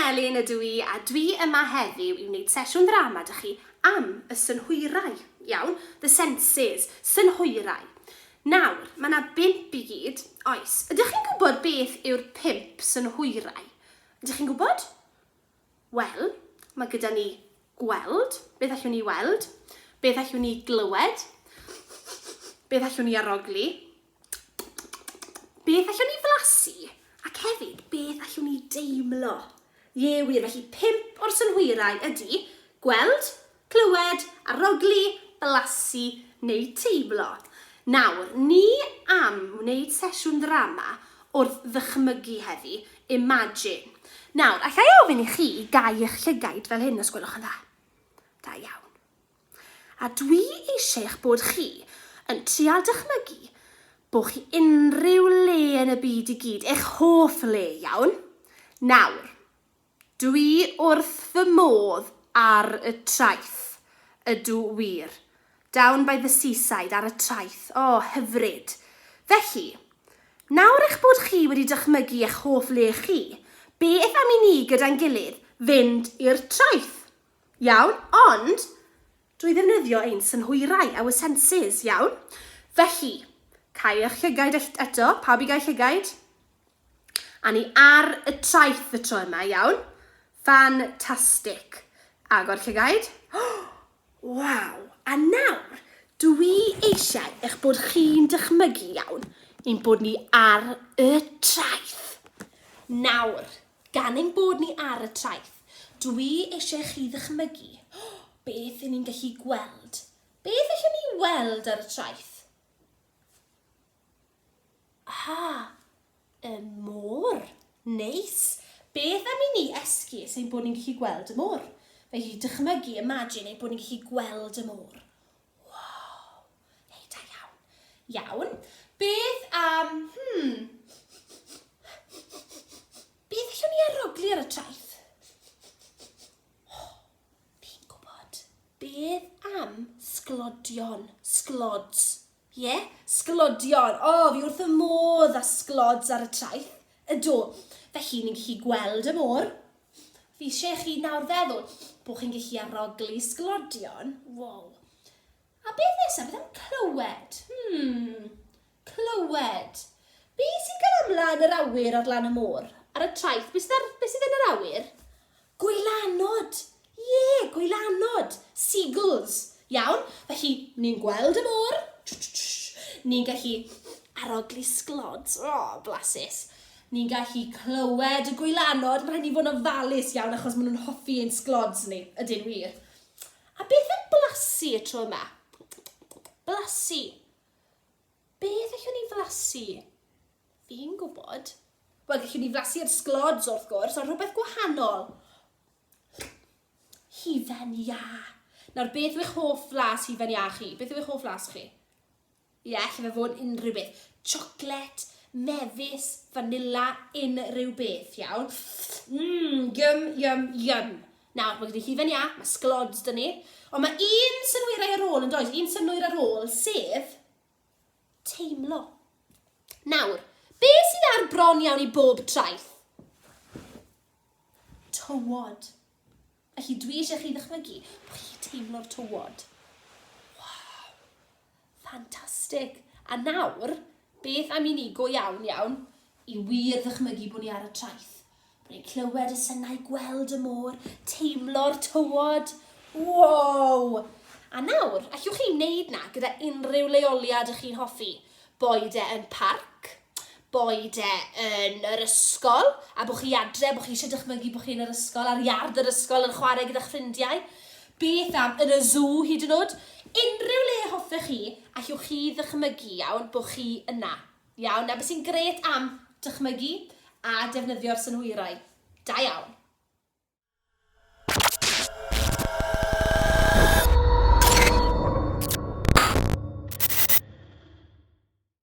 Elin ydw i a dwi yma heddiw i wneud sesiwn ddrama dych chi am y synhwyrau, iawn, the senses, synhwyrau. Nawr, mae yna bimp i gyd, oes. Ydych chi'n gwybod beth yw'r pimp synhwyrau? Ydych chi'n gwybod? Wel, mae gyda ni gweld, beth allwn ni weld? Beth allwn ni glywed? Beth allwn ni arogli? Beth allwn ni flasu? Ac hefyd, beth allwn ni deimlo? Ie wir, felly pimp o'r synhwyrau ydy gweld, Clywed, arogli, blasu neu teimlo. Nawr, ni am wneud sesiwn ddrama wrth ddychmygu heddi, imagine. Nawr, alla i ofyn i chi gau eich llygaid fel hyn os gwelwch yn dda? Da iawn. A dwi eisiau eich bod chi yn trial dychmygu bod chi unrhyw le yn y byd i gyd, eich hoff le, iawn? Nawr, Dw i wrth fy modd ar y traeth, ydw wir. Down by the seaside, ar y traeth. O, hyfryd. Felly, nawr eich bod chi wedi dychmygu eich hoff le chi, beth am i ni gyda'n gilydd fynd i'r traeth? Iawn, ond, Drwy ddefnyddio ein synhwyrau, our senses, iawn? Felly, cau eich llygaid ell- eto, pawb i gau llygaid. A ni ar y traeth y tro yma, iawn? Fantastic. Agor llygaid. Waw! A nawr, dw i eisiau eich bod chi'n dychmygu, iawn, ein bod ni ar y traeth. Nawr, Gan ein bod ni ar y traeth, dw i eisiau i chi ddychmygu beth i ni'n gallu gweld. Beth allwn ni weld ar y traeth? Aha, y môr. Neis. Beth am i ni esgus ein bod ni'n gallu gweld y môr? Felly, dychmygu, imagine, ein bod ni'n gallu gweld y môr. Waw. Hei, da iawn. Iawn. Beth am... Hmm. Beth allwn ni arogli ar y traeth? Oh, fi'n gwybod. Beth am sglodion? Sglods. Ie? Yeah? Sglodion. O, oh, fi wrth y modd a sglods ar y traeth. Ydw. Felly, ni'n gallu gweld y môr. Fi eisiau chi nawr feddwl bod chi'n gallu arogli sglodion. Wow. A beth nesaf? Beth am clywed? Hmm, clywed. Be sy'n cael amla yn yr awyr ar lan y môr? Ar y traeth, beth sydd, beth sydd yn yr awyr? Gwylanod! Ie, yeah, gwylanod! Seagulls! Iawn, felly ni'n gweld y môr, ni'n gallu arogli sglod, o, oh, blasus. Ni'n gallu clywed y gwylanod, mae rhaid ni fod yn ofalus iawn achos maen nhw'n hoffi ein sglods ni, ydyn wir. A beth am blasu y tro yma? Blasu. Beth allwn ni flasu? Fi'n gwybod. Wel, gallwn ni flasu'r sglods wrth gwrs, ond rhywbeth gwahanol. Hufen iâ. Nawr, beth yw eich hoff flas hufen iâ chi? Beth yw eich hoff flas chi? Ie, alle fe fod yn unrhyw beth. Chocolate, mefus, fanilla, unrhyw beth, iawn? Mmm, yum, yum, yum. Nawr, mae gyda ni hufen iâ, mae sglods dyn ni, ond mae un synwyrau ar ôl yn does, un synwyr ar ôl, sef teimlo. Nawr, be sydd ar bron iawn i bob traeth? Tywod. Felly dwi eisiau chi ddychmygu bod chi'n teimlo'r tywod. Waw! Ffantastig! A nawr, beth am i ni go iawn, iawn, i wir ddychmygu bod ni ar y traeth. Bod ni'n clywed y synau, gweld y môr, teimlo'r tywod. Wow! A nawr, allwch chi wneud na gyda unrhyw leoliad ych chi'n hoffi, boed e yn parc, boed e yn yr ysgol, a bod chi adre, bod chi eisiau dychmygu bod chi yn yr ysgol, ar iard yr ysgol yn chwarae gyda'ch ffrindiau, beth am yn y zw hyd yn oed, unrhyw le hoffech chi, allwch chi ddychmygu, iawn, bod chi yna. Iawn, na beth sy'n gret am dychmygu a defnyddio'r synhwyrau. Da iawn.